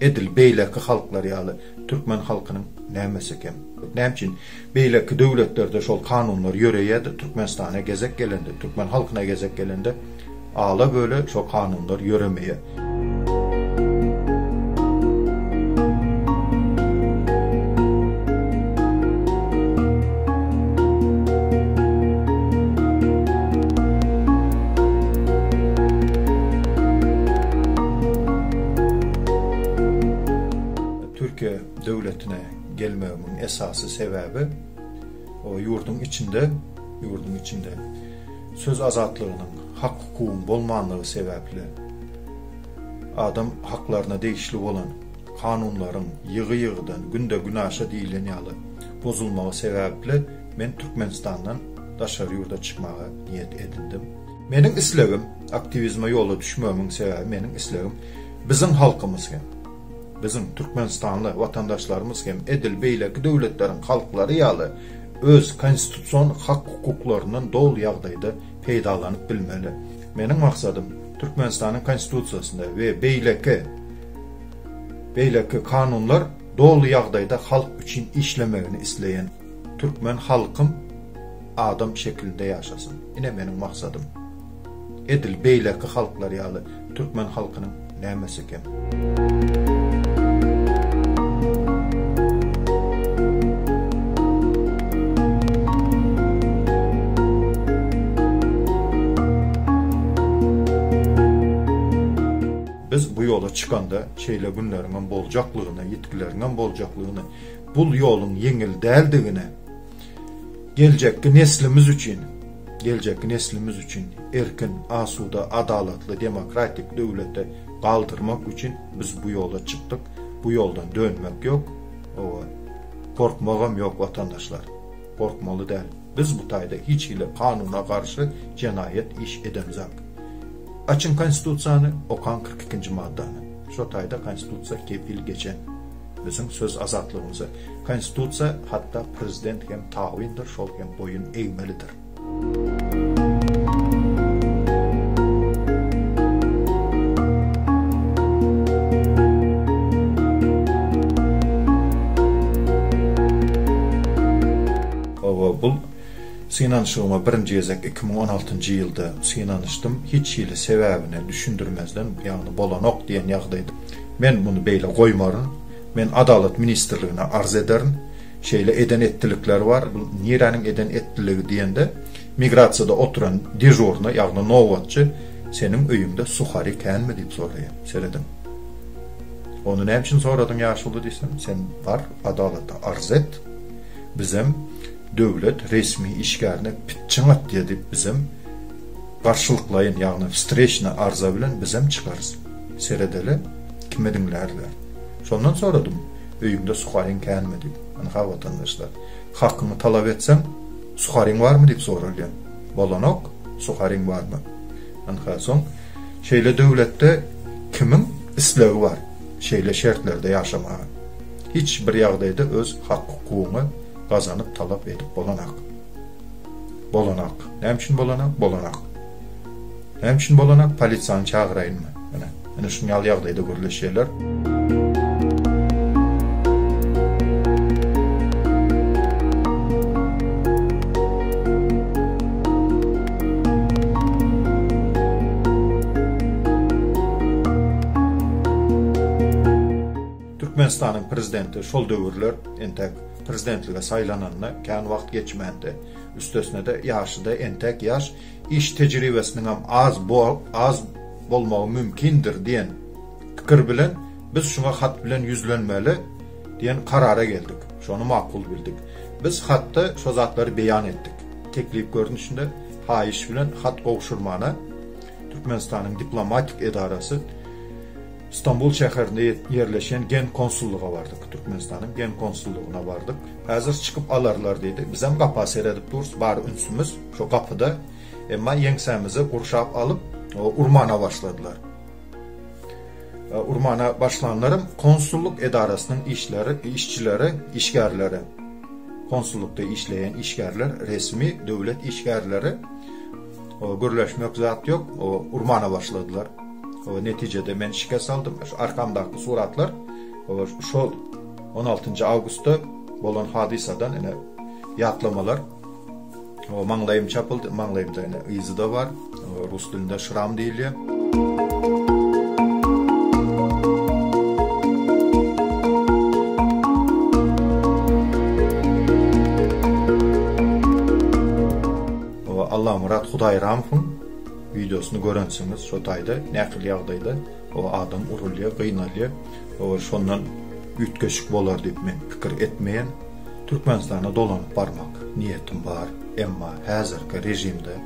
Edil beýleki halklar ýaly türkmen halkynyň nämesi eken? Näme üçin beýleki döwletlerde şol kanunlar ýöreýärdi, Türkmenistana gezek gelende, türkmen halkyna gezek gelende ala-böle şol kanunlar ýöremeýär? Türkiýe döwletine gelmegimiň esasy sebäbi o ýurduň içinde, ýurduň içinde söz azatlygynyň, hak-hukugyň bolmanlygy sebäpli adam haklaryna degişli bolan kanunlaryň ýygy-ýygydan, günde-günaşa diýilen ýaly bozulmagy sebäpli men Türkmenistandan daşary ýurda çykmaga niýet edindim. Meniň islegim, aktiwizme ýola düşmegimiň sebäbi meniň islegim biziň halkymyz hem, biziň türkmenistanly watandaşlarymyz hem edil beýleki döwletleriň halklary ýaly öz konstitusion hak-hukuklaryndan doly ýagdaýda peýdalanyp bilmeli. Meniň maksadym Türkmenistanyň konstitusiýasynda we beýleki beýleki kanunlar doly ýagdaýda halk üçin işlemegini isleýän türkmen halkym adam şekilinde ýaşasyn, ine meniň maksadym. Edil beýleki halklar ýaly türkmen halkynyň nämesi kem? Biz bu ýola çykanda şeýle günleriňem boljaklygyny, ýitgileriňem boljaklygyny, bul ýoluň ýeňil däldigini, Geljekki neslimiz üçin, geljekki neslimiz üçin erkin, asuda, adalatly, demokratik döwleti galdyrmak üçin biz bu ýola çykdyk. Bu ýoldan dönmek ýok. Owa, gorkmagam ýok watandaşlar. Gorkmaly däl. Biz bu taýda hiç hili kanuna garşy jenaýat iş edemzok. Açyň konstitusiýany, okaň kyrk ikinji maddany. Şo taýda konstitusiýa kepil geçen. Biziň söz azatlygymyzy konstitusiýa hatda prezident hem tabyndyr şol hem boýun egmelidir. Hawa bul synanyşygyma birinji gezek iki müň on altynjy ýylda synanyşdym hiç hili sebäbini düşündirmezden ýagny bolanok diýen ýagdaýda. Men muny beýle goýmaryn. Men Adalat ministrligine arz ederin. Şeýle eden etdilikleri bar. Bu niräniň eden etdiligi diýende, migrasiýada oturan dežurny, ýagny nobatçy, Seniň öýüňde suhari känmi diýip soraýar. Serediň. Ony näme üçin soradyň ýaşuly diýsem, sen bar adalata arz et. Bizem döwlet resmi işgärine pitçiň atýa diýip bizem garşylyklaýyn, ýagny wstreçna arza bilen bizem çykarys. Seredeli, kime diňlärler? Şondan soradym, öýüňde suharyň känmi diýip. Ynha, watandaşlar, hakyňy talap etseň, suharyň barmy diýip soralýar. Bolanok, suharyň barmy? Ynha, soň şeýle döwletde kimiň islegi bar şeýle şertlerde ýaşamaga? Hiç bir ýagdaýda öz hak-hukugyňy gazanyp talap edip bolanak. Bolanak. Näme üçin bolanak? Bolanak. Näme üçin bolanak polisiýany çagyraýynmy? Ine, ine şuny ýaly ýagdaýda gürleşýärler. Türkmenistanyň prezidenti şol döwürler entek prezidentlige saýlananyna kän wagt geçmändi. Üstesine-de ýaşy-da entek ýaş, iş tejribesiniň hem az bo az bolmagy mümkindir diýen pikir bilen biz şuňa hat bilen ýüzlenmeli diýen karara geldik. Şony makul bildik. Biz hatda şo zatlary beýan etdik. Teklip görnüşinde haýyş bilen hat gowşurmana Türkmenistanyň diplomatik edarasy Stambul şäherinde ýerleşen gen konsullyga bardyk. Türkmenistanyň gen konsullygyna bardyk. Häzir çykyp alarlar diýdi. Bizem gapa seredip durus, bar ünsümiz Şo gapyda emma ýeňsämizi gurşap alyp, urmana başladylar. Urmana başlanlarym konsullyk edarasynyň işleri, işçileri, işgärleri, konsullykda işleýän işgärler, resmi döwlet işgärleri gürleşmek zat ýok, urmana başladylar. Netijede men şikes aldym. Şu arkamdaky suratlar şol 16-njy awgustda bolan hadysadan ene ýatlamalar. O maňlaýym çapyldy, maňlaýymda ýene yzy-da bar. Rus dilinde şram diýilýär. Allamyrat Hudaýramowyň wideosyny görensiňiz, şo taýda nähili ýagdaýda o adam urulýar, gynalýar. Ol şondan üýtgeşik bolar diýip men pikir etmeýän. Türkmenistana dolanyp barmak niýetim bar, emma häzirki režimde,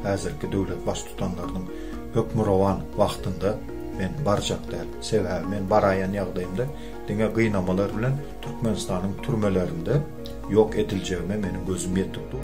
häzirki döwlet Baştutanlarynyň hökmürowan wagtynda men barjak däl. Sebäbi men baraýan ýagdaýymda diňe gynamalar bilen Türkmenistanyň türmelerinde ýok ediljegime meniň gözüm ýetip dur.